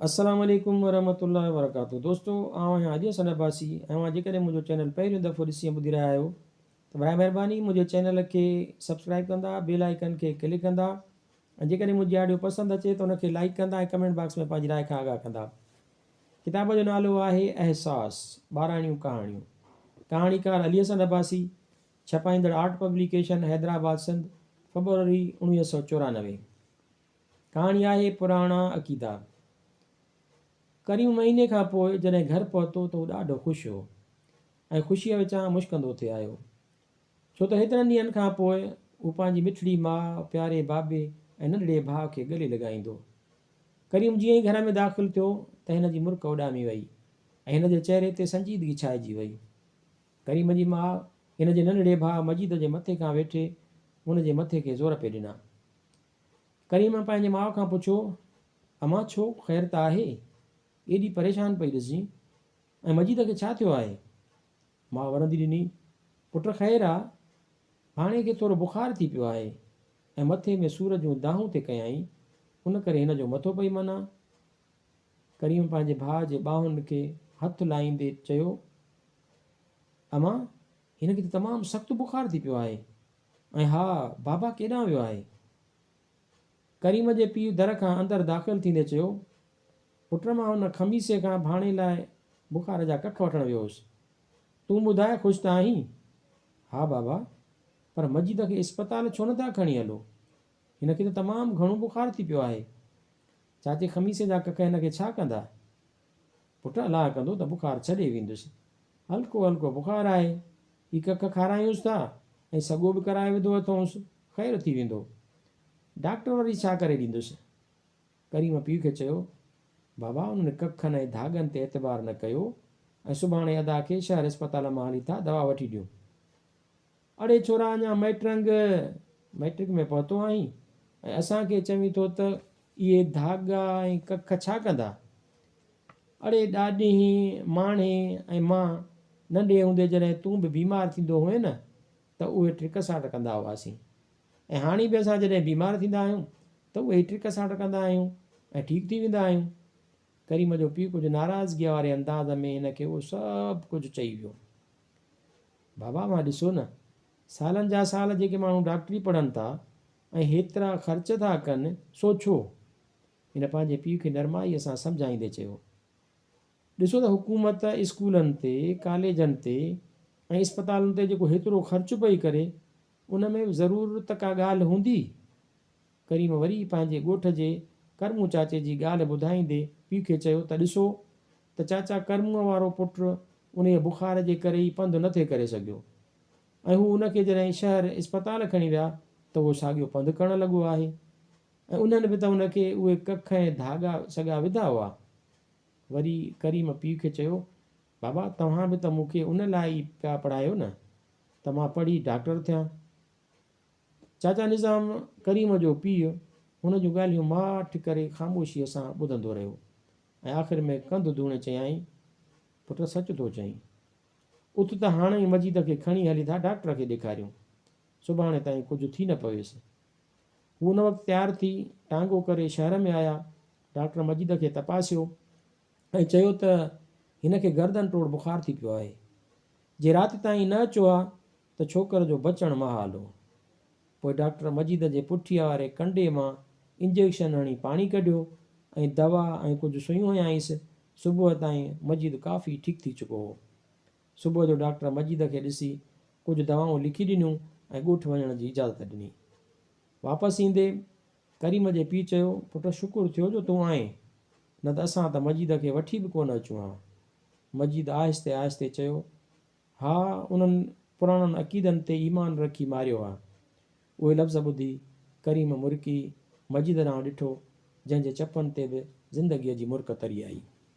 السلام عليڪم ورحمة الله وبرڪاته دوستو آئون آهيان اڄ حسن عباسي ۽ اوهان جيڪڏهن منهنجو چينل پهريون دفعو ڏسي ۽ ٻڌي رهيا آهيو ته براهه مهرباني منهنجي چينل کي سبسڪرائب ڪندا بيل آئيڪن کي ڪلڪ ڪندا ۽ جيڪڏهن منهنجي آڊيو پسند اچي ته ان کي لائيڪ ڪندا ۽ ڪمينٽ باڪس ۾ پنهنجي راء کان آگاهه ڪندا ڪتاب جو نالو آهي احساس ٻاراڻيون ڪهاڻيون ڪهاڻيڪار علي حسن عباسي ڇپائيندڙ آرٽ پبليڪيشن حيدرآباد سنڌ فبروري اوڻويهه سؤ چورانوي ڪهاڻي آهي پراڻا عقيدا. قريب مهيني کان پوء جڏهن گهر پهتو ته هو ڏاڍو خوش هو ۽ خوشيء وچان مشڪندو ٿي آيو. ڇو ته هيترن ڏينهن کان پوء هو پنهنجي مٺڙي ماء، پياري بابي ۽ ننڍڙي ڀاء کي ڳلي لڳائيندو. ڪريم جيئن ئي گهر ۾ داخل ٿيو ته هن جي مرڪ اڏامي وئي ۽ هن جي چهري تي سنجيدگي ڇائجي وئي. ڪريم جي ماء هن جي ننڍڙي ڀاء مجيد جي مٿي کان ويٺي هن جي مٿي کي زور پئي ڏنا. ڪريمه پنهنجي ماء کان پڇيو، امان ڇو خير ته آهي؟ ايڏي پريشان پئي ڏسجين ۽ مجيد کي ڇا ٿيو آهي؟ ماء ورندي ڏني، پٽ خير آ، ڀاڻيء کي ٿورو بخار ٿي پيو آهي ۽ مٿي ۾ سور جون دانهون ٿي ڪيائين، ان ڪري هن جو مٿو پئي منا. ڪريمه پنهنجي ڀاء جي ٻانهن کي هٿ لائيندي چيو، امان هن کي ته تمام سخت بخار ٿي پيو آهي. ۽ ها، بابا ڪيڏانهن ويو آهي؟ ڪريم جي پيء در کان اندر داخل ٿيندي چيو، پٽ مان ان خميسي کان ڀاڻي لاء بخار جا ڪک وٺڻ ويو هوس. تون ٻڌاء خوش ته آهين؟ ها بابا، پر مجيد کي اسپتال ڇو نه ٿا کڻي هلو؟ هن کي ته تمام گهڻو بخار ٿي پيو آهي. چاچي خميسي جا ڪک هن کي ڇا ڪندا؟ پٽ الاهه ڪندو ته بخار ڇڏي ويندس. هلڪو هلڪو بخار آهي. هي ڪک کارايونس ٿا ۽ سڳو به ڪرائي وڌو اٿئونس. خير ٿي ويندو. ڊاڪٽر وري ڇا ڪري ڏيندس؟ ڪريم پيء کي چيو، بابا انهن ڪکن ۽ ڌاڳن تي اعتبار نه ڪيو ۽ سڀاڻي ادا کي شهر اسپتال مان هلي ٿا دوا وٺي ڏيون. اڙي ڇورا اڃا مئٽرنگ، Matric، ۾ پهتو آهين ۽ اسان کي چوين ٿو ته اهي ڌاڳا ۽ ڪک ڇا ڪندا؟ اڙي ڏاڏينهين، ماڻهي ۽ مان ننڍي هوندي جڏهن تون به بيمار ٿيندو هئين نه ته اهي ٽرڪ ساٽ ڪندا هئاسين ۽ هاڻي به اسان جڏهن بيمار ٿيندا آهيون ته اهي ئي ٽرڪ ساٽ ڪندا آهيون ۽ ٺيڪ ٿي ويندا آهيون. ڪريم جو پيء ڪجهه ناراضگيء واري انداز ۾ هن کي اهو سڀ ڪجهه چئي ويو. بابا اھا ڏسو نه سالن جا سال جيڪي ماڻھو ڊاڪٽري پڙھن ٿا ۽ ھيترا خرچ ٿا ڪن سو ڇو؟ ھن پنھنجي پيء کي نرمائيء سان سمجھائيندي چيو. ڏسو ته حڪومت اسڪولن تي، ڪاليجن تي ۽ اسپتالن تي جيڪو ھيترو خرچ پئي ڪري ان ۾ به ضرور ته ڪا ڳالھه ھوندي. ڪريم وري پنهنجي ڳوٺ جي ڪرمون چاچي جي ڳالهه ٻڌائيندي پيء کي چيو ته ڏسو ته چاچا ڪرمون وارو پٽ انهيء بخار جي ڪري ئي پنڌ نه ٿي ڪري سگهيو ۽ هو ان کي جڏهن شهر اسپتال کڻي ويا ته اهو ساڳيو پنڌ ڪرڻ لڳو آهي ۽ انهن به ته ان کي اهي ڪک ۽ ڌاڳا سڳا وڌا هئا. وري ڪريم پيء کي چيو بابا توهان به ته مون کي ان لاء ئي پيا پڙهايو نه ته مان پڙهي ڊاڪٽر ٿيان. چاچا نظام ڪريم جو پيء هن جون ڳالهيون ماٺ ڪري خاموشيء سان ٻڌندو رهيو ۽ آخر ۾ ڪنڌ ڌوڻي چيائين، پٽ سچ ٿو چئين. اٿ ته هاڻ ئي مجيد کي کڻي هلي ٿا ڊاڪٽر کي ڏيکاريون. سڀاڻي تائين ڪجهه ٿي نه پويس. هو ان وقت تيار ٿي ٽانگو ڪري شهر ۾ آيا. ڊاڪٽر مجيد کي تپاسيو ۽ چيو ته هن کي گردن ٽوڙ بخار ٿي پيو آهي. جي رات تائين نه اچو ها ته ڇوڪر جو بچڻ محال هو. پوء ڊاڪٽر مجيد جي پٺيء واري ڪنڊي مان انجيڪشن هڻي پاڻي ڪڍيو ۽ دوا ۽ ڪجهه سيون هنيائينس. صبح تائين مجيد ڪافي ٺيڪ ٿي چڪو هو. صبح جو ڊاڪٽر مجيد کي ڏسي ڪجهه دوائون لکي ڏنيون ۽ ڳوٺ وڃڻ جي اجازت ڏني. واپس ايندي ڪريم جي پيء چيو، پٽ شڪر ٿيو جو تون آئين، نه ته اسان ته مجيد کي وٺي به ڪونه اچون ها. مجيد آهستي آهستي چيو، ها انهن پراڻن عقيدن تي ايمان رکي ماريو ها. اهي لفظ ٻڌي ڪريم مرڪي مجيد ڏانهن ڏٺو جنهن جي چپن تي به زندگيء جي مرڪ تري آئي.